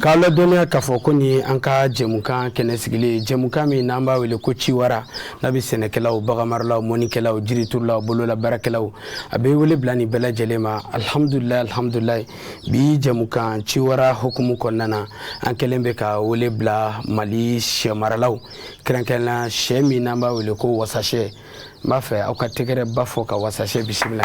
K'aw ladɔnniya k'a fɔ ko nin an ka jɛmukan kɛnɛ sigilen jɛmukan min n'an b'a wele ko ciwara n'a bɛ sɛnɛkɛlaw baganmaralaw mɔnikɛlaw jiriturulaw bolola baarakɛlaw a bɛ wele bila nin bɛɛ lajɛlen ma alihamudulila alihamudulayi bi jɛmukan ciwara hukumu kɔnɔna na an kɛlen bɛ ka wele bila mali sɛ maralaw kɛrɛnkɛrɛnna sɛ min n'an b'a wele ko wasasɛ n b'a fɛ aw ka tɛgɛrɛba fɔ ka wasasɛ bisimila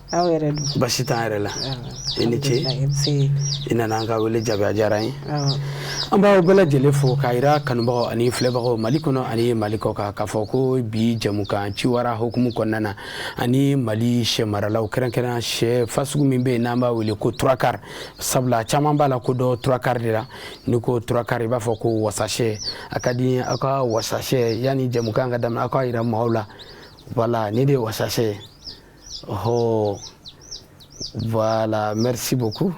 aw yɛrɛ dun baasi t'an yɛrɛ la i ni ce i nana an ka wele jaabi a diyara n ye an b'aw bɛɛ lajɛlen fo k'a yira kanubagaw ani filɛbagaw mali kɔnɔ ani mali kɔkan k'a fɔ ko bi jɛmukan ciwara hukumu kɔnɔna na ani mali sɛ maralaw kɛrɛnkɛrɛn sɛ fasugu min bɛ yen n'an b'a wele ko trois-quarts sabula caman b'a lakodɔn trois-quarts de la n'i ko trois-quarts i b'a fɔ ko wasasɛ a ka di aw ka wasasɛ yanni jɛmukan ka daminɛ aw k'a yira maaw la voilà nin de ye wasasɛ ye Oh, voilà, merci beaucoup.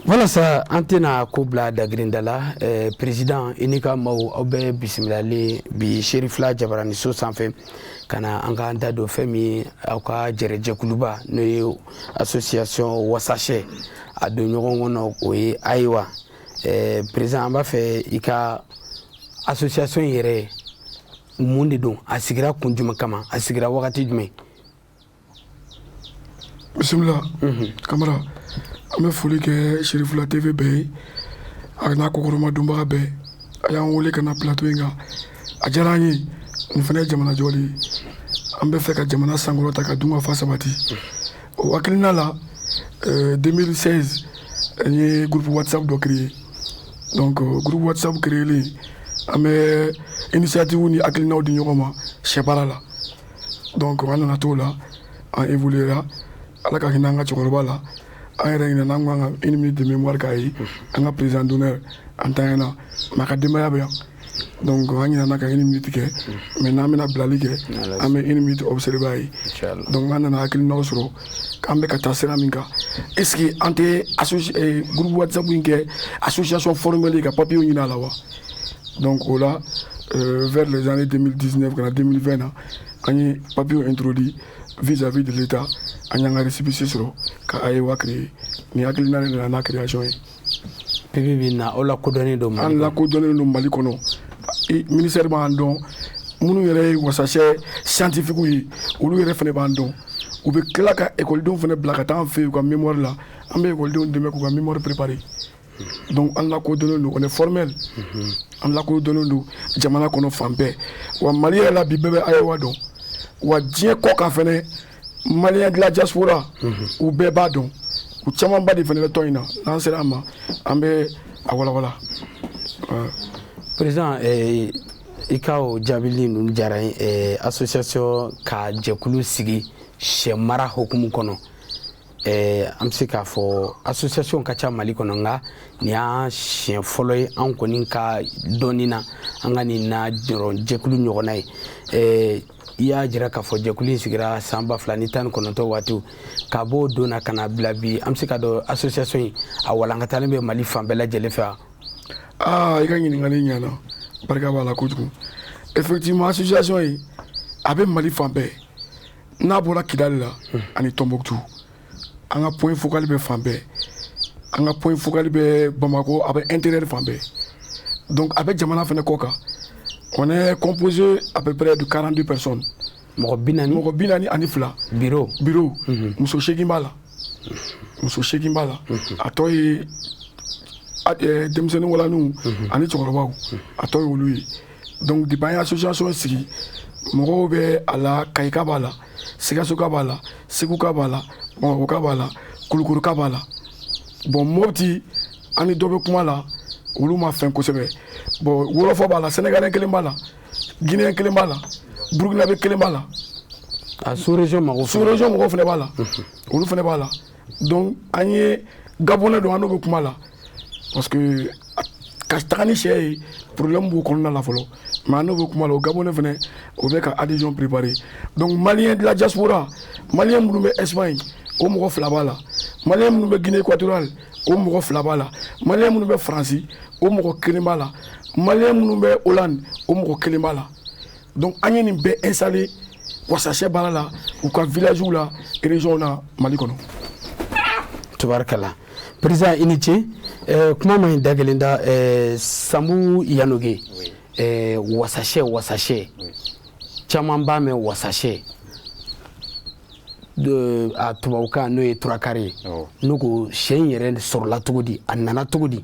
Walasa an tɛna ko bila dagirinda la eh, président i ni ka maaw aw bɛ bisimilalen bi Cherifla jabaraniso sanfɛ ka na an k'an da don fɛn min aw ka jɛrɛjɛkuluba n'o ye association wasasɛ a don ɲɔgɔn kɔnɔ o ye ayiwa eh, président an b'a fɛ i ka association yɛrɛ mun de don a sigira kun jumɛn kama a sigira wagati jumɛn bisimila mhm. kamara an bɛ foli kɛ Cherifla TV bɛɛ ye a n'a kɔkɔrɔmadonbaga bɛɛ a y'an wele ka na plateau in kan a diyara an ye nin fana ye jamana jɔli ye an bɛ fɛ ka jamana sankɔrɔta ka dunkafa sabati o hakilina la 2016 eh, n ye groupe whatsapp dɔ créer donc groupe whatsapp créelen an bɛ initiative ni hakilinaw di ɲɔgɔn ma sɛbaara la donc an nana t'o la an évoluera ala ka hinɛ an ka cɛkɔrɔba la an yɛrɛ ɲinɛna an ko an ka une minute de mémoire k'a ye an ka président d'honneur a ntanyana mais a ka denbaya bɛ yan donc an ɲinana ka une minute kɛ mais n'an bɛna bilali kɛ an bɛ une minute observer a ye donc an nana hakilinaw sɔrɔ k'an bɛ ka taa sira min kan est ce que an tɛ eh, groupe whatsapp in kɛ association formelle ka papier ɲini a la wa donc o la euh, vers les années 2019 ka na 2020 na an ye papier introduit vis à vis de l'état an y'an ka récépissé sɔrɔ ka ayewa créer nin hakilina de nana n'a création ye bibi in na aw lakodɔnnen don an lakodɔnnen don mali kɔnɔ ministère b'an dɔn minnu yɛrɛ ye wasasɛ scientifiquew ye olu yɛrɛ fana b'an dɔn u bɛ tila ka ekɔlidenw fana bila ka taa an fɛ yen u ka mémoire la an bɛ ekɔlidenw dɛmɛ k'u ka mémoire préparer donc an lakodɔnnen don on est formel mhm. an lakodɔnnen don jamana kɔnɔ fan bɛɛ wa mali yɛrɛ la bi bɛɛ bɛ ayewa dɔn wa diɲɛ kɔkan fɛnɛ malien de la diaspora u bɛɛ b'a dɔn u camanba de fana bɛ tɔn in na n'an sera a ma an bɛ a walawala président i ka o jaabili ninnu diyara association ka jɛkulu sigi sɛ mara hukumu kɔnɔ an bɛ se k'a fɔ association ka ca mali kɔnɔ nka nin y'an siɲɛ fɔlɔ ye an kɔni ka dɔnni na an ka nin na jɛkulu ɲɔgɔnna ye i y'a jira k'a fɔ jɛkulu in sigira san ba fila ni tan ni kɔnɔntɔ waatiw ka b'o don na ka na bila bi an bɛ se k'a dɔn association in a walankatalen bɛ mali fan bɛɛ lajɛlen fɛ wa aa i ka ɲininkali ɲɛna barika b'a la kojugu effectivement association in a bɛ mali fan bɛɛ n'a bɔra kidali la ani tɔnbɔkutu an ka point focal bɛ fan bɛɛ an ka point focal bɛ bamakɔ a bɛ intérieur fan bɛɛ donc a bɛ jamana fana kɔ kan on est composé à peu près de quarante-deux personnes mɔgɔ bi naani ani fila bureau muso seegin b'a la muso seegin b'a la a tɔ ye denmisɛnnin walaninw ani cɛkɔrɔbaw a tɔ ye olu ye donc depuis an ye association sigi mɔgɔw bɛ a la kayika b'a la sikasoka b'a la seguka b'a la bamakɔka b'a la kulukɔrɔka b'a la bon mopti an ni dɔ bɛ kuma la olu ma fɛn kosɛbɛ bon wolofɔ b'a la sénégalais kelen b'a la guinéen kelen b'a la burukinabe kelen b'a la a sous région mɔgɔw sous région mɔgɔw fana b'a la olu fana b'a la donc an ye gabonais dɔn an n'o bɛ kuma la parce que ka taga ni sɛ ye problème b'o kɔnɔna la fɔlɔ mais an n'o bɛ kuma la o gabonais fana o bɛ ka adhésion préparer donc malien de la diaspora malien minnu bɛ Espagne o mɔgɔ fila b'a la malien minnu bɛ Guinée équatoriale o mɔgɔ fila b'a la malien minnu bɛ France o mɔgɔ kelen b'a la malien minnu bɛ Hollande o mɔgɔ kelen b'a la donc an ye nin bɛɛ installé wasasɛ baara la u ka villagew la région na mali kɔnɔ tubarikala président i ni ce eh, kuma man ɲi da kelen da eh, sambu yanoge eh, wasasɛ wasasɛ caman b'a mɛn wasasɛ de a tubabukan n'o ye trois quarts ye ne ko sɛ in yɛrɛ sɔrɔla cogo di a nana cogo di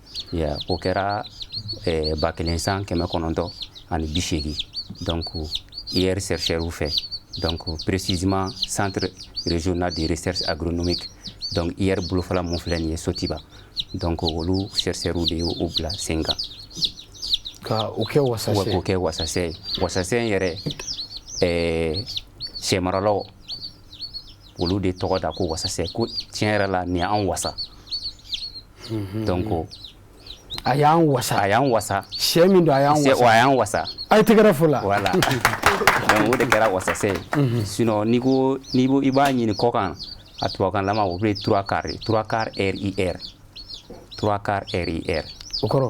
o kɛra ba kelen san kɛmɛ kɔnɔntɔn ani bi seegin dɔn ko i yɛrɛ sɛsɛri fɛ dɔn ko peresisi santere rezson deresɛri a bɛ dɔn i yɛrɛ bolofa minnu filɛ nin ye sotiba dɔn ko olu sɛsɛrw de ye o bila sen kan ka'o kɛ kɛ wasasɛ ye wasasɛ in yɛrɛ sɛmaralɔ olu de tɔgɔ da ko wasa ko tiɲɛ yɛrɛ la ni an wasa donc a y'an wasa a y'an wasa sɛ min don a y'an wasa a y'an wasa a ye tɛgɛrɛ fo la voilà o de kɛra wasasɛ ye sinon n'i ko n'i ko i b'a ɲini kɔ kan a tubabukan lama o bɛ trois quarts trois quarts RIR trois quarts RIR o kɔrɔ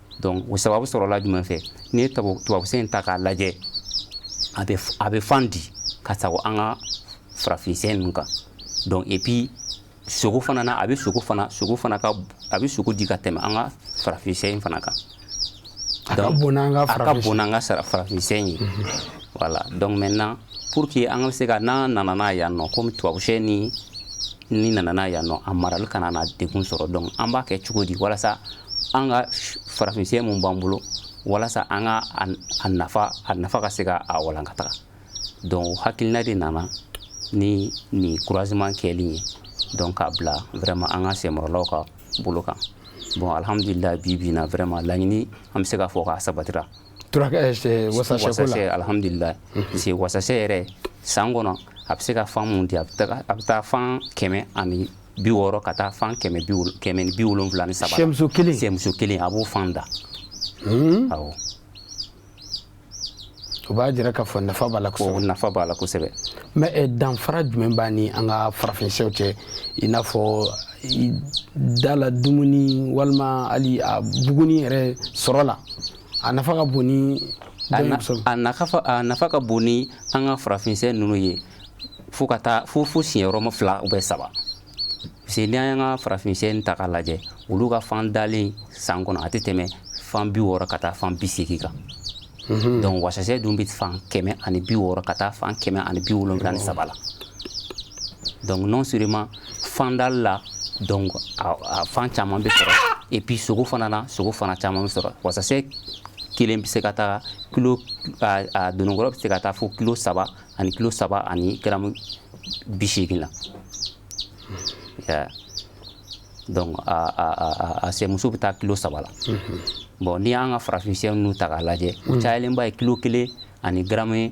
donc o sababu sɔrɔla jumɛn fɛ n'i ye tubabusɛ in ta k'a lajɛ a bɛ a bɛ fan di ka sago an ka farafinsɛ ninnu kan donc et puis sogo fana na a bɛ sogo fana sogo fana ka a bɛ sogo di ka tɛmɛ an ka farafinsɛ in fana kan a ka bon n'an ka farafinsɛ in ye voilà donc maintenant pour que an ka se ka n'an nana n'a yan nɔ komi tubabusɛ ni ni nana n'a yan nɔ a marali kana na degun sɔrɔ donc an b'a kɛ cogo di walasa an ka farafinsɛ min b'an bolo walasa an ka a nafa a nafa ka se ka a walankata donc hakilina de nana ni nin croisement kɛli ye donc k'a bila vraiment an ka sɛmaralaw ka bolo kan bon alhamdulila bi bi na vraiment laɲini an bɛ se k'a fɔ k'a sabatira alihamdulila parce wasasɛ yɛrɛ san kɔnɔ a bɛ se ka fan min di a a bɛ taa fan kɛmɛ ani bi wɔɔrɔ ka taa fan kɛmɛ kɛmɛ ni bi wolonwula ni saba sɛmuso kelen sɛmuso kelen a b'o fan da hmm? awɔ o b'a jira k'a fɔ nafa b'a la kosɛbɛ nafa b'a la kosɛbɛ mais danfara jumɛn b'a ni an ka farafinsɛw cɛ i n'a fɔ da la dumuni walima hali a buguni yɛrɛ sɔrɔ la a nafa ka bon ni a nafa ka bon ni an ka farafinsɛ ninnu ye fo ka taa fo fo sigiyɔrɔma fila ou bien saba parce que n'i an ka farafinsɛ ta k'a lajɛ olu ka fan dalen san kɔnɔ a tɛ tɛmɛ fan bi wɔɔrɔ ka taa fan bi seegin kan mhm. donc wasasɛ dun bɛ fan kɛmɛ ani bi wɔɔrɔ ka taa fan kɛmɛ ani bi wolonwula ni saba la donc non seulement fandali la donc a fan caman bɛ sɔrɔ et puis sogo fana na sogo fana caman bɛ sɔrɔ wasasɛ kelen bɛ se ka taa kilo a dononkɔrɔ bɛ se ka taa fo kilo saba ani kilo saba ani garamu bi seegin la donc a sɛmuso bɛ taa kilo saba la bon n'i y'an ka farafinsɛ ninnu ta k'a lajɛ o cayalenba ye kilo kelen ani garamu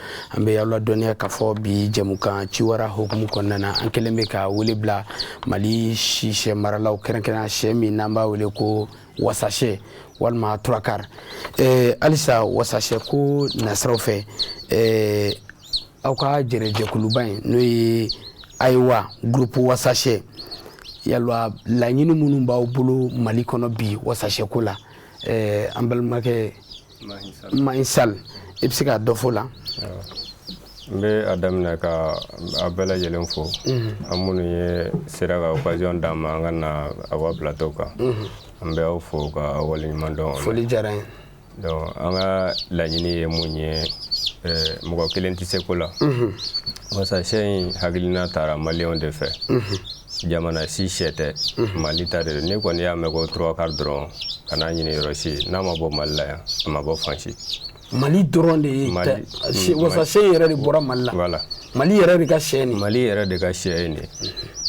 an bɛ aw ladɔnniya k'a fɔ bi jɛmukan ciwara hukumu kɔnɔna na an kɛlen bɛ ka wele bila mali sisɛ maralaw kɛrɛnkɛrɛnnen sɛ min n'an b'a wele ko wasasɛ walima trois quarts eh, halisa wasasɛ ko nasiraw fɛ eh, aw ka jɛrɛjɛkuluba in n'o ye ayiwa groupe wasasɛ yalwa laɲini minnu b'aw bolo mali kɔnɔ bi wasasɛko la eh, an balimakɛ ma in sali i bɛ se ka dɔ fɔ la n bɛ a daminɛ ka a bɛɛ lajɛlen fo an minnu ye sera ka occasion d'an ma an ka na aw ka plateau kan an bɛ aw fo ka waleɲuman dɔn foli diyara n ye donc an ka laɲini ye mun ye mɔgɔ kelen tɛ se ko la wasasɛ in hakilina taara maliyɛnw de fɛ jamana si sɛ tɛ mhm. mali ta de don n'i kɔni y'a mɛn ko trois-quarts dɔrɔn kan'a ɲini yɔrɔ si n'a ma bɔ mali la yan a ma bɔ fan si mali dɔrɔn de ye mm, wasasɛ yɛrɛ de bɔra mali la mali yɛrɛ de ka sɛ nin mali yɛrɛ de ka sɛ ye nin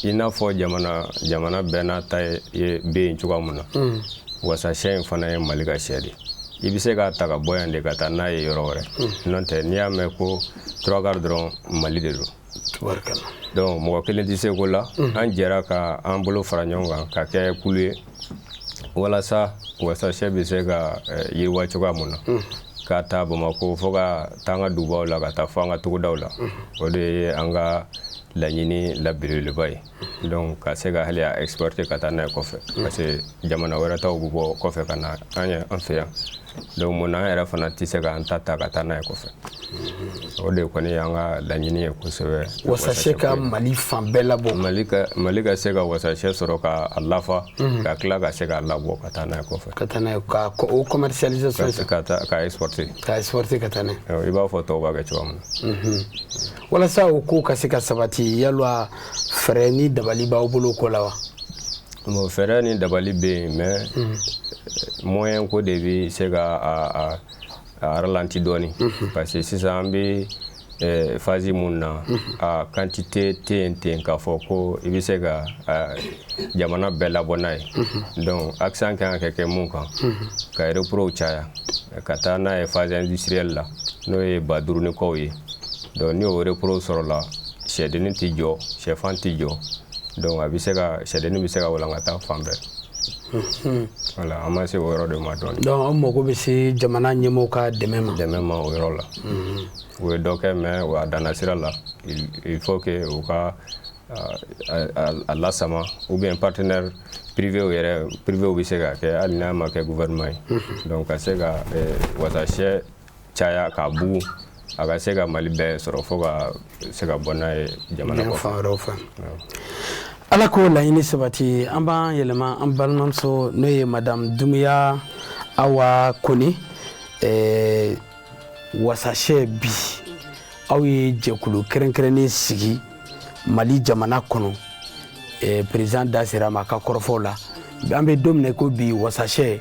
i n'a fɔ jamana jamana bɛɛ n'a ta ye bɛ yen cogoya min na mm. wasasɛ in fana ye mali ka sɛ de i bɛ se k'a ta ka bɔ yan de ka taa n'a ye yɔrɔ wɛrɛ mm. n'o tɛ n'i y'a mɛn ko trois-quarts dɔrɔn mali de don donc mɔgɔ kelen tɛ se ko la mhm. an jɛra ka an bolo fara ɲɔgɔn kan ka kɛ kulu ye walasa wasasɛ bɛ se ka eh, yiriwa cogoya mun na mhm. ka taa bamakɔ fo ka taa an ka dugubaw la ka taa fo an ka togodaw la mhm. o de ye an ka laɲini la belebeleba ye donc ka se ka hali a exporter ka taa n'a ye kɔfɛ parce que jamana wɛrɛ taw bɛ bɔ kɔfɛ ka na an ye an fɛ yan donc mun na an yɛrɛ fana tɛ se k'an ta ta ka taa n'a ye kɔfɛ o de kɔni y'an ka laɲini ye kosɛbɛ wasasɛ ka mali fan bɛɛ labɔ mali ka mali ka se ka wasasɛ sɔrɔ ka a lafa mhm. ka tila ka se k'a labɔ ka taa n'a ye kɔfɛ ka taa n'a ye ka o commercialisation ka taa ka exporter ka exporter ka taa n'a ye i b'a fɔ tɔw b'a kɛ cogoya min na mhm. walasa o ko ka se ka sabati yalwa fɛɛrɛ ni dabali b'aw bolo ko la wa bon fɛɛrɛ ni dabali bɛ yen mais mhm. moyen ko de bɛ se ka a a ralentir dɔɔni mhm. parce que sisan an bɛ eh, phase mun na mhm. a quantité tɛ yen ten k'a fɔ ko i bɛ se ka jamana bɛɛ labɔ n'a ye donc accent kan ka kɛ mun kan ka reprow caya ka taa n'a ye phase industrielle la n'o ye ba duuru ni kɔw ye donc ni o reprow sɔrɔla sɛdennin tɛ jɔ sɛfan tɛ jɔ donc a bɛ se ka sɛdennin bɛ se ka walankata fan bɛɛ hmm. voilà an ma se o yɔrɔ de ma dɔɔni donc an mago bɛ se jamana ɲɛmɔgɔw ka dɛmɛ ma dɛmɛ ma o yɔrɔ la hmm. u ye dɔ kɛ mais o a danna sira la il faut que u ka a lasama ou bien partenaire privé yɛrɛ privé bɛ se ka kɛ hali n'a ma kɛ gouvernement ye hmm. donc ka se ka eh, wasasɛ caya k'a bugu a ka se ka mali bɛɛ sɔrɔ fo ka se ka bɔ n'a ye jamana kɔfɛ fan wɛrɛw fɛ ala k'o laɲini sabati an b'an yɛlɛma an balimamuso n'o ye madame dumuya awa kone eh, wasasɛ bi aw ye jɛkulu kɛrɛnkɛrɛnnen sigi mali jamana kɔnɔ eh, président da sera a ma a ka kɔrɔfɔw la an bɛ don min na ko bi wasasɛ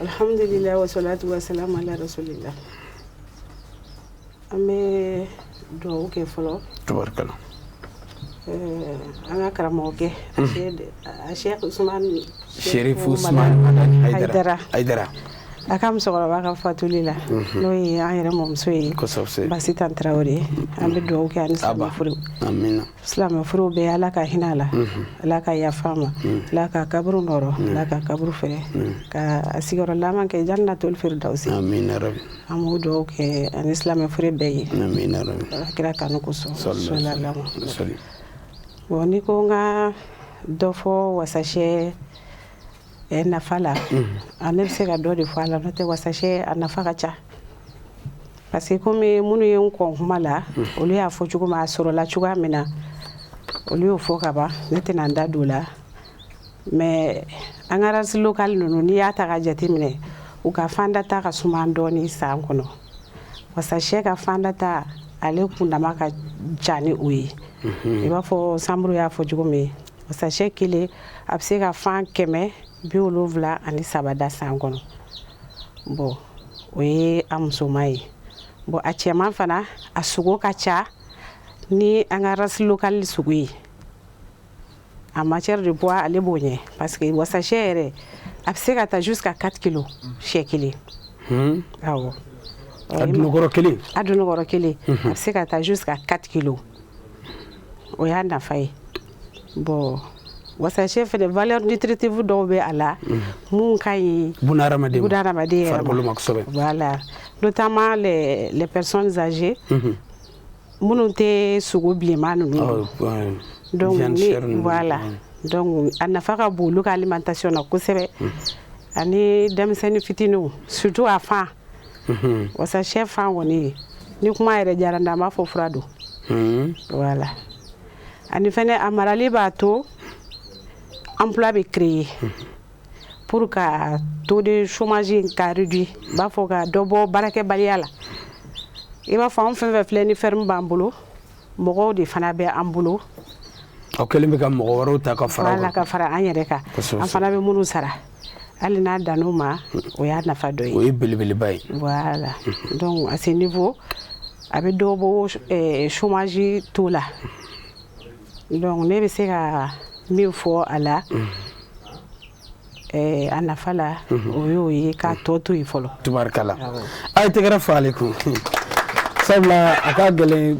Alihamdulila wasalatu wasalamu ala rasulilahi an bɛ dugawu kɛ fɔlɔ tubarikala an ka karamɔgɔkɛ Sɛki Usumani Hayidara a ka musokɔrɔba ka fatuli la n'o ye an yɛrɛ mɔmuso ye Basitan Tarawele an bɛ dugawu kɛ ani fure silamɛ fure bɛɛ ala ka hinɛ a la mhm. ala ka yafa ma mhm. ala ka kaburu nɔrɔ mhm. ala ka kaburu fɛrɛ ka a sigiyɔrɔ laban kɛ jannatul firidawusi an b'o dugawu kɛ ani silamɛ fure bɛɛ ye kira kanu kosɔn bɔn n'i ko n ka dɔ fɔ wasasɛ Ɛ nafa la a ne bɛ se ka dɔ de fɔ a la n'o tɛ wasasɛ a nafa ka ca parce que kɔmi minnu ye n kɔn kuma la olu y'a fɔ cogo min a sɔrɔla cogoya min na olu y'o fɔ kaban ne tɛna n da don o la mais an ka race locale ninnu n'i y'a ta ka jateminɛ u ka fandata ka suma dɔɔnin san kɔnɔ wasasɛ ka fandata ale kundama ka ca ni o ye i b'a fɔ Sanburu y'a fɔ cogo min ye wasasɛ kelen a bɛ se ka fan kɛmɛ bi wolonwula ani saba da san kɔnɔ bɔn o ye a musoman ye bɔn a cɛman fana a sogo ka ca ni an ka race locale sogo ye en matière de poids ale b'o ɲɛ parce que wasasɛ yɛrɛ a bɛ se ka taa jusqu'à quatre kilos sɛ kelen hmm. awɔ a dunukɔrɔ kelen a dunukɔrɔ kelen a bɛ se ka taa jusqu'à quatre kilos o y'a nafa ye bɔn wasasɛ fɛ vlɛ ni tiritifu dɔw bɛ a la minnu ka ɲi yɛrɛsɛbɛ b'a la n'o taama lɛpsɔnzsaze minnu tɛ sogo bilenma ninnu la a nafa ka bon olu k'ale ma tasiɔn na kosɛbɛ ani denmisɛnninni fitinin sutu a fan wasasɛ fan kɔni ye ni kuma yɛrɛ diyara n da an b'a fɔ fura don voilà ani fana a marali b'a to emploi bɛ créer pour ka taux de chômage in ka réduire n b'a fɔ ka dɔ bɔ baarakɛbaliya la i b'a fɔ an fɛn fɛn filɛ ni ferme b'an bolo mɔgɔw de fana bɛ an bolo aw kɛlen bɛ ka mɔgɔ wɛrɛw ta ka fara ka fara an yɛrɛ kan an fana bɛ minnu sara hali n'a dann'o ma o y'a nafa dɔ ye o ye belebeleba ye voilà donc à ce niveau a bɛ dɔ bɔ eh, chômage taux la donc ne bɛ se ka min fɔ a la eh, a nafa la o y'o ye k'a tɔ to yen fɔlɔ tubarikala a ye tɛgɛrɛ fɔ ale kun sabula a ka gɛlɛn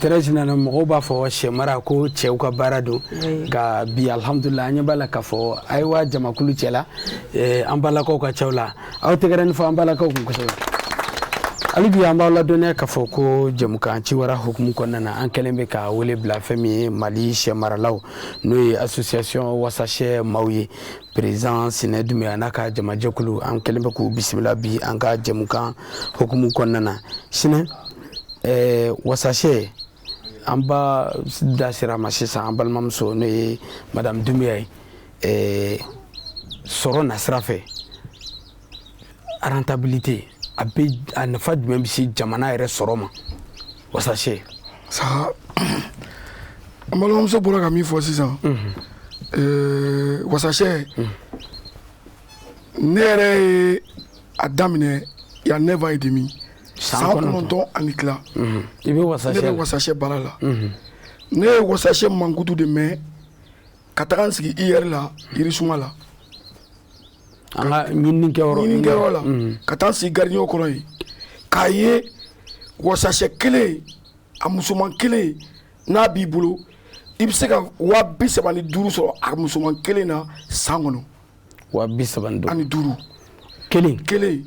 tɛrɛsi nana mɔgɔw b'a fɔ sɛ mara ko cɛw ka baara don nka bi alihamudulila an ɲɛ b'a la k'a fɔ ayiwa jamakulu cɛla eh, an balakaw ka cɛw la aw tɛgɛrɛnin fɔ an balakaw kun kosɛbɛ hali bi an b'aw ladɔnniya k'a fɔ ko jɛmukan ciwara hukumu kɔnɔna na an kɛlen bɛ ka wele bila fɛn min ye mali sɛ maralaw n'o ye association wasasɛ maaw ye perezan sinɛ dumbuya n'a ka jamajɛkulu an kɛlen bɛ k'u bisimila bi an ka jɛmukan hukumu kɔnɔna na sinɛ eh, wasasɛ an ba da sera a ma sisan an balimamuso n'o ye madamu dumbuya ye eh, sɔrɔ nasira fɛ rentabilité a bɛ a nafa jumɛn bɛ se jamana yɛrɛ sɔrɔ ma wasasɛ sa an balimamuso bɔra ka min fɔ sisan mhm. wasasɛ mhm. ne yɛrɛ ye a daminɛ y a neuf ans et demi san kɔnɔntɔn ani tila mhm. i bɛ wasasɛ ne bɛ wasasɛ baara la ne ye wasasɛ mankutu de mɛn ka taga n sigi IER la yirisuma la an ka ɲininikɛyɔrɔ ɲininikɛyɔrɔ la mm. ka taa n sigi gardien kɔrɔ yen k'a ye wasasɛ kelen a musoman kelen n'a b'i bolo i bɛ se ka waa bi saba ni duuru sɔrɔ a musoman kelen na san kɔnɔ wa bi saba ni duuru ani duuru kelen kelen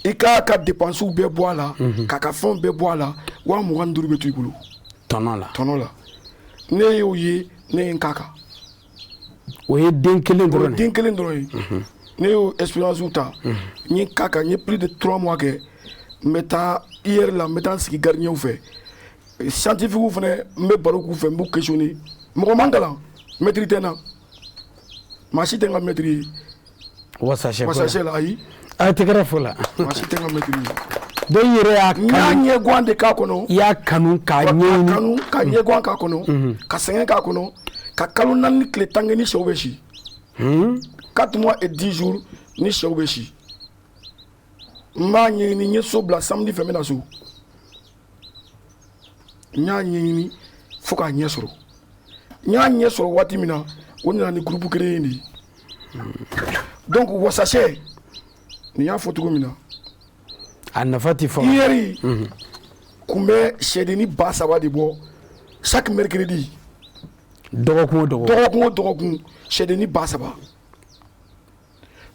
i k'a ka depansiw bɛɛ bɔ a la k'a ka fɛnw bɛɛ bɔ a la wa mugan ni duuru bɛ to i bolo tɔnɔ la tɔnɔ la ne y'o ye ne ye n k'a kan o ye den kelen o ye dɔrɔn de den kelen dɔrɔn ye ne y'o expérience ta n ye n k'a kan n ye plus de trois mois kɛ n bɛ taa IER la n bɛ taa n sigi gardien fɛ scientifique fana n bɛ baro k'u fɛ n b'u questionner mɔgɔ ma n kalan mɛtiri tɛ n na maa si tɛ n ka mɛtiri ye wasasɛ la ayi a ye tɛgɛrɛ fɔ a la dɔw yɛrɛ y'a ɲɛgan de k'a kɔnɔ i y'a kanu ka ka ɲɛgan k'a kɔnɔ mm-hmm. ka sɛgɛn k'a kɔnɔ ka kalo naani ni tile tan kɛ ni sɛw bɛ si mm-hmm. quatre mois et dix jours ni sɛw bɛ si n b'a ɲɛɲini n ye so bila samedi fɛ n bɛ na so n y'a ɲɛɲini fo k'a ɲɛ sɔrɔ n y'a ɲɛ sɔrɔ waati min na o nana ni gurupu créer de ye donc wasasɛ nin y'a fɔ cogo min na a nafa tɛ fɔ IER mhm. kun bɛ sɛdenni ba saba de bɔ chaque mercredi dɔgɔkun o dɔgɔkun dɔgɔkun o dɔgɔkun sɛdenni ba saba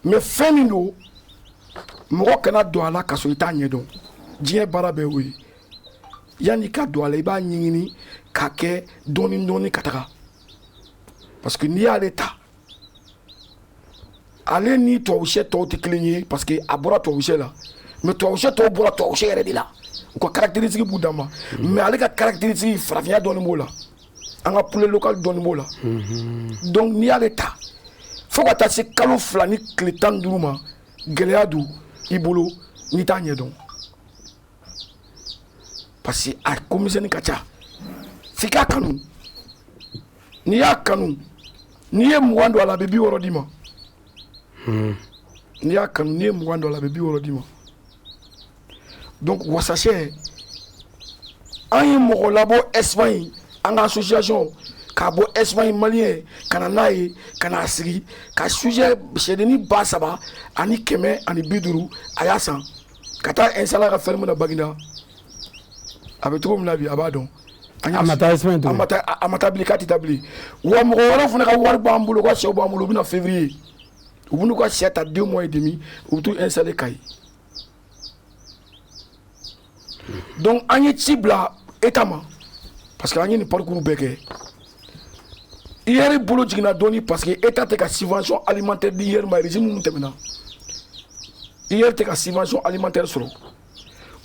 mais fɛn min don mɔgɔ kana don a la ka sɔrɔ i t'a ɲɛdɔn diɲɛ baara bɛɛ o ye yanni i ka don a la i b'a ɲɛɲini k'a kɛ dɔɔni dɔɔni ka taga parce que n'i y'ale ta ale ni tubabusɛ tɔw tɛ kelen ye parce que a bɔra tubabusɛ la mais tubabusɛ tɔw bɔra tubabusɛ yɛrɛ de la u ka caractéristique b'u danma mais ale ka caractéristique farafinya dɔɔni b'o la an ka poulet local dɔɔni b'o la donc n'i y'ale ta fo ka taa se kalo fila ni tile tan ni duuru ma gɛlɛya don i bolo n'i t'a ɲɛdɔn parce que a ko misɛnni ka ca f'i k'a kanu n'i y'a kanu n'i ye mugan don a la a bɛ bi wɔɔrɔ d'i ma n'i y'a kanu n'i ye mugan don a la a bɛ bi wɔɔrɔ d'i ma donc wasasɛ an ye mɔgɔ labɔ Espagne an ka association k'a bɔ Espagne maliyɛn ka na n'a ye ka n'a sigi ka sujet sɛdenni ba saba ani kɛmɛ ani bi duuru a y'a san ka t'a installer a ka ferme na Baginda a bɛ cogo min na bi a b'a dɔn a ma taa bilen k'a tɛ taa bilen wa mɔgɔ wɛrɛw fana ka wari b'an bolo u ka sɛw b'an bolo u bɛ na février u bɛ n'u ka sɛ ta deux mois et demi u bɛ t'u installer Kayi donc an ye ci bila État ma parce que an ye nin parcours bɛɛ kɛ IER bolo jiginna dɔɔni parce que État tɛ ka subvention alimentaire di IER ma régime minnu tɛmɛna IER tɛ ka subvention alimentaire sɔrɔ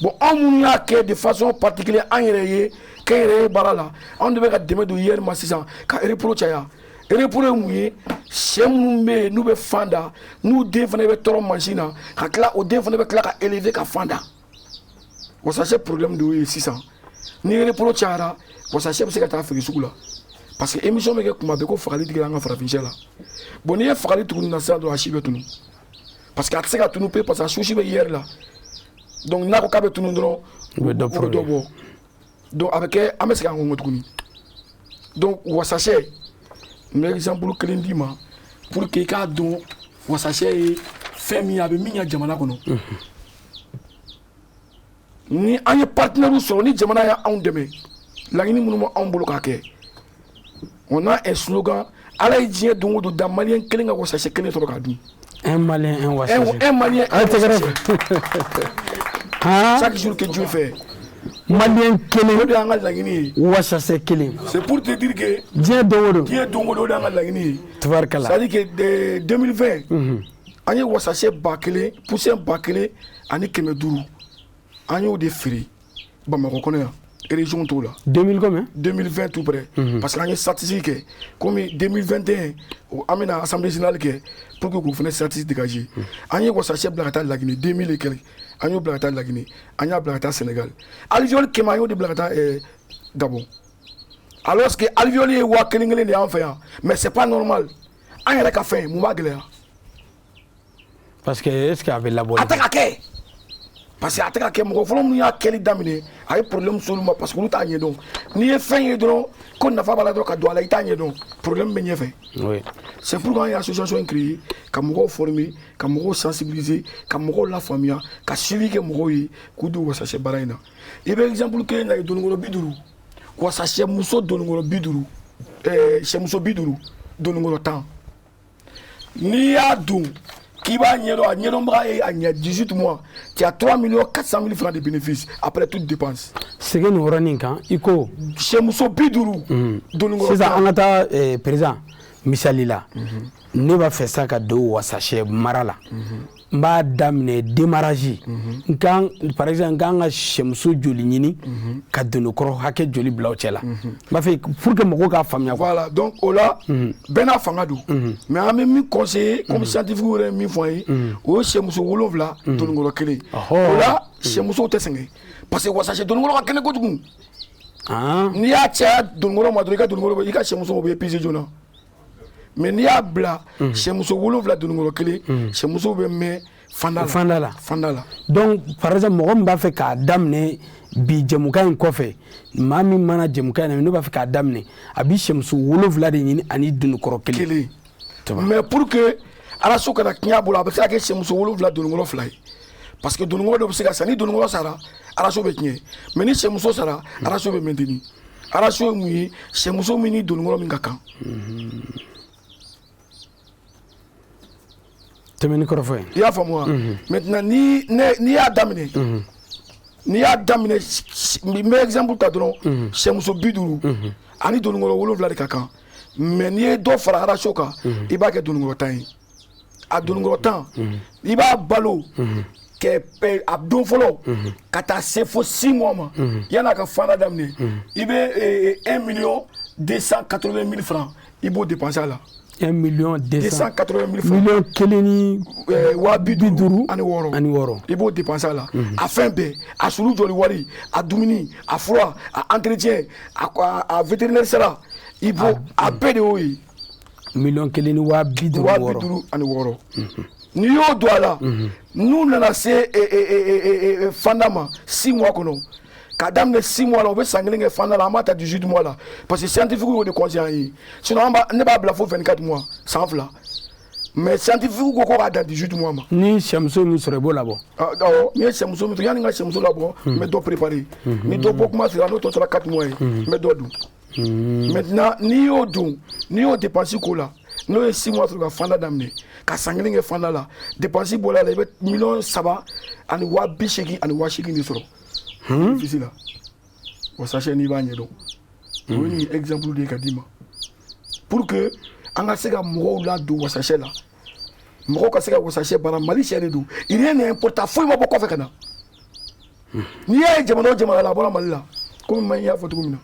bon anw minnu y'a kɛ de façon particulière an yɛrɛ ye kɛnyɛrɛye baara la anw de bɛ ka dɛmɛ don IER ma sisan ka repro caya repro ye mun ye sɛ minnu bɛ yen n'u bɛ fan da n'u den fana bɛ tɔrɔ mansin na ka tila o den fana bɛ tila ka élever ka fan da wasasɛ problème de y'o ye sisan ni repro cayara wasasɛ bɛ se ka taa feere sugu la parce que émission bɛ kɛ kuma bɛɛ ko fagali tigɛra an ka farafinsɛ la bon n'i ye fagali tugu nin na sisan dɔrɔn a si bɛ tunu parce que a tɛ se ka tunu pe parce que a souche bɛ IER la donc n'a ko k'a bɛ tunu dɔrɔn u bɛ dɔ bɔ donc a bɛ kɛ an bɛ segin an kɔ tuguni donc wasasɛ n bɛ exemple kelen d'i ma pour que i k'a dɔn wasasɛ ye fɛn min ye a bɛ min ɲɛ jamana kɔnɔ ni an ye partenaires sɔrɔ ni jamana y'anw dɛmɛ laɲini minnu bɛ anw bolo k'a kɛ on a un slogan Ala ye diɲɛ don o don da maliyɛn kelen ka wasasɛ kelen sɔrɔ k'a dun. Un malien, un wasasɛ. Un, un malien, un wasasɛ. Haan. Chaque jour que Dieu fait. Malien kelen. O de y'an ka laɲini ye. Wasasɛ kelen. C'est pour te dire que. Diɲɛ don o don. Diɲɛ don o don o de y'an ka laɲini ye. Tubarikala. C'est à dire que 2020. Unhun. An ye wasasɛ ba kelen, poussin ba kelen ani kɛmɛ duuru. An y'o de feere. bamakɔ kɔnɔ yan région t'o la 2020 mais 2020 tout près mhm. parce que an ye statistique kɛ comme 2021 an bɛna assemblée générale kɛ pour que k'o fana statistique dégager mhm. an ye wasasɛ bila ka taa laginɛ 2000 et quelques an y'o bila ka taa laginɛ an y'a bila ka taa sénégal alvéole kɛmɛ an y'o de bila ka taa eh, gabon alors que alvéole ye waa kelen kelen de y'an fɛ yan mais c'est pas normal an yɛrɛ ka fɛn mun b'a gɛlɛya parce que est ce que a bɛ labɔ a tɛ ka kɛ parce que a tɛ ka kɛ mɔgɔ fɔlɔ minnu y'a kɛli daminɛ a ye problème s'olu ma parce que olu t'a ɲɛdɔn n'i ye fɛn ye dɔrɔn ko nafa b'a la dɔrɔn ka don a la i t'a ɲɛdɔn problème bɛ ɲɛfɛ oui. c'est pourquoi an ye association in créer ka mɔgɔw former ka mɔgɔw sensibiliser ka mɔgɔw lafaamuya ka suivi kɛ mɔgɔw ye k'u don wasasɛ baara in na i bɛ exemple kelen lajɛ dononkɔrɔ bi duuru wasasɛ muso dononkɔrɔ bi duuru ɛɛ sɛmuso bi duuru dononkɔrɔ tan n'i y'a dɔn k'i b'a ɲɛdɔn a ɲɛdɔnbaga ye a ɲɛ 18 mois tu as 3 millions 400 mille francs de bénéfice après toute dépense segin nin yɔrɔnin kan i ko sɛmuso bi duuru mm. dononkɔrɔ sisan an ka taa eh, président misali la mhm. ne b'a fɛ sa ka don wasasɛ mara la mhm. n b'a daminɛ démarrage in kan par exemple n kan ka sɛmuso joli ɲini ka donokɔrɔ hakɛ joli bila o cɛ la n b'a fɛ pour que mɔgɔw k'a faamuya voilà donc o la bɛɛ n'a fanga don mais an bɛ min conseiller comme scientifique yɛrɛ ye min fɔ an ye o ye sɛmuso wolonwula donokɔrɔ kelen o la sɛmusow tɛ sɛgɛn parce que wasasɛ donokɔrɔ ka kɛnɛ kojugu n'i y'a caya donokɔrɔ ma dɔrɔn i ka donokɔrɔ i ka sɛmuso bɛ épuiser joona mais n'i y'a bila mhm. sɛmuso wolonwula dununkɔrɔ kelen mhm. sɛmuso bɛ mɛn fanda fanda la fanda la donc par exemple mɔgɔ min b'a fɛ k'a daminɛ bi jɛmukan in kɔfɛ maa min mana jɛmukan in na ne b'a fɛ k'a daminɛ a bi sɛmuso wolonwula de ɲini ani dununkɔrɔ kelen kelen mais pour que ratio kana tiɲɛ a bolo a bɛ se ka kɛ sɛmuso wolonwula dununkɔrɔ fila ye parce que dununkɔrɔ dɔ bɛ se ka sa ni dununkɔrɔ sara ratio bɛ tiɲɛ mais ni sɛmuso sara ratio bɛ maintenir ratio ye mun ye sɛmuso min ni dononkɔrɔ min ka kan tɛmɛni kɔrɔfɔ ye i y'a faamu wa maintenant ni ne n'i y'a daminɛ n'i y'a daminɛ s- s- n bɛ exemple ta dɔrɔn sɛmuso bi duuru ani dononkɔrɔ wolonwula de ka kan mais n'i ye dɔ fara ratio kan i b'a kɛ dononkɔrɔ tan ye a dononkɔrɔ tan i b'a balo a don fɔlɔ ka taa se fo 6 mois ma yann'a ka fanda daminɛ i bɛ 1 million 280 mille francs i b'o dépenser a la 1 million 280 mille million kelen ni waa bi bi duuru ani wɔɔrɔ ani wɔɔrɔ i b'o dépenser a la a fɛn bɛɛ a sulu jɔli wari a dumuni a fura a entretien a vétérinaire sara i b'o a bɛɛ de y'o ye miliyɔn kelen ni waa bi duuru wɔɔrɔ waa bi duuru ani wɔɔrɔ n'i y'o don a la n'u nana se e, e, e, fanda ma six mois kɔnɔ ka daminɛ six mois la u bɛ san kelen kɛ fanda la an b'a ta dix-huit mois la parce que scientifique y'o de conseiller an ye sinon an b'a ne b'a bila fo vingt-quatre mois san fila mais scientifique ko ko k'a dan 18 mois ma ni sɛmuso min sɔrɔ i b'o labɔ awɔ n ye sɛmuso min to yanni n ka sɛmuso labɔ n bɛ dɔ préparer ni dɔ bɔ kuma sera n'o tɔ tora 4 mois ye n bɛ dɔ don hmm. maintenant n'i y'o don n'i y'o dépense k'o la n'o ye six mois sɔrɔ ka fanda daminɛ ka san kelen kɛ fanda la dépense bɔra a la i bɛ miliyɔn saba ani waa bi seegin ani waa seegin de sɔrɔ fisi hmm? la wasasɛ n'i b'a ɲɛdɔn o ye nin exemple de ye ka d'i ma pour que an ka se ka mɔgɔw ladon wasasɛ la mɔgɔ ka se ka wasasɛ baara mali sɛ de don rien n'est importé foyi ma bɔ kɔfɛ ka na n'i y'a ye jamana o jamana la a bɔra mali la komi ma y'a fɔ cogo min na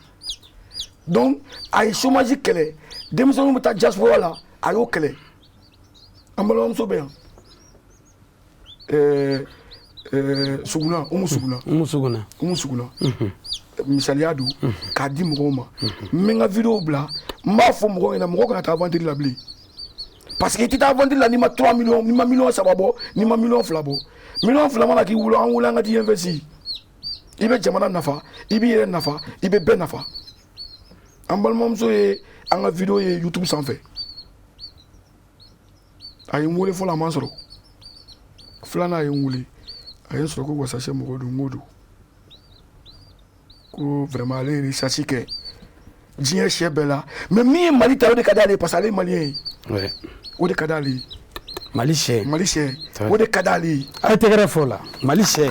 donc a ye chômage kɛlɛ denmisɛnninw bɛ taa diaspora la a y'o kɛlɛ an balimamuso bɛ yan ɛɛ ɛɛ suguna umu suguna umu suguna umu suguna misaliya don k'a di mɔgɔw ma n bɛ n ka video bila n b'a fɔ mɔgɔw ɲɛna mɔgɔw kana taa aventure la bilen parce que i tɛ taa aventure la n'i ma 3 millions n'i ma million saba bɔ n'i ma million fila bɔ million fila mana k'i bolo an wele an ka t'i investi i bɛ jamana nafa i b'i yɛrɛ nafa i bɛ bɛɛ nafa an balimamuso ye an ka video ye youtube sanfɛ a ye n wele fɔlɔ a ma sɔrɔ filanan a ye n wele a ye n sɔrɔ ko wasasɛ mɔgɔ don n ko don ko vraiment ale ye recherche kɛ diɲɛ sɛ bɛɛ la mais min ye mali ta o de ka d'ale ye parce que ale ye maliyɛn ye Ouais. o de ka d'ale ye mali sɛ mali sɛ o de ka d'ale ye a ye tɛgɛrɛ fɔ o la mali sɛ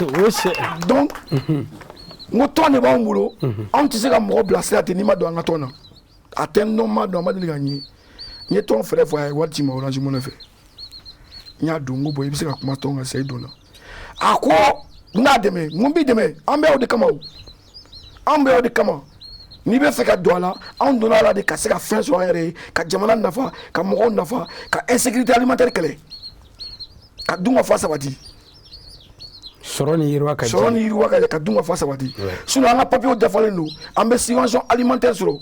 o ye sɛ donc n ko tɔn de b'anw bolo anw tɛ se ka mɔgɔ bilasira ten n'i ma don an ka tɔn na a tɛ n dɔn n m'a dɔn a ma deli ka n ye n ye tɔn fɛɛrɛ fɔ a ye wari ci n ma orange money fɛ n y'a don n ko bon i bɛ se ka kuma tɔn kan sa i donna a ko n n'a dɛmɛ n ko n b'i dɛmɛ an bɛ o de kama o an bɛ o de kama n'i bɛ fɛ ka don a la anw donna a la de ka se ka fɛn sɔrɔ an yɛrɛ ye ka jamana nafa ka mɔgɔw nafa ka insécurité alimentaire kɛlɛ ka dunkafa sabati sɔrɔ ni yiriwa ka sɔrɔ ni yiriwa ka ka dunkafa sabati sinon an ka papiyew dafalen don an bɛ subvention alimentaire sɔrɔ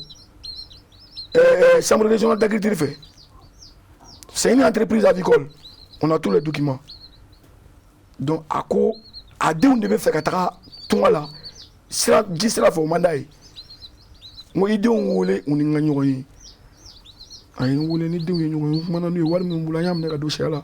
euh, chambre régionale d'agriculture fɛ c'est une entreprise avicole on a tous les documents donc a ko a denw de bɛ fɛ ka taga tunga la sira ji sira fɛ o man d'a ye n ko i denw wele u ni n ka ɲɔgɔn ye a ye n wele n ni denw ye ɲɔgɔn ye n kumana n'u ye wari min bolo an y'a minɛ ka don sɛ la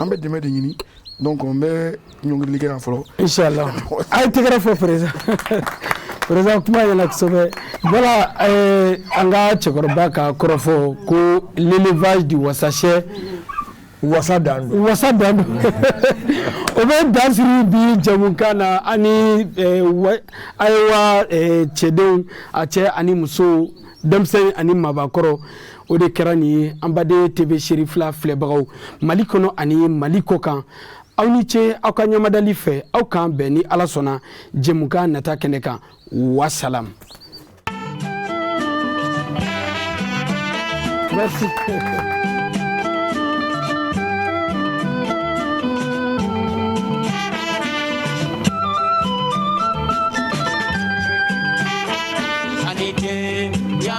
an bɛ dɛmɛ de ɲini donc n bɛ ɲɔngirili kɛ yan fɔlɔ inshallah a ye tɛgɛrɛ fɔ président président kuma ɲɛna kosɛbɛ voilà eh, an ka cɛkɔrɔba ka kɔrɔfɔ ko l'élevage du wasasɛ wasa dan don o bɛ dan siri bi jɛmukan na ani eh, wa- ayiwa eh, cɛdenw a cɛ ani musow denmisɛn ani mabakɔrɔ o de kɛra nin ye an baden tv Cherifla filɛbagaw mali kɔnɔ ani mali kɔ kan aw ni ce aw ka ɲamadali fɛ aw k'an bɛn ni ala sɔnna jɛmukan nata kɛnɛ kan wasalam Merci.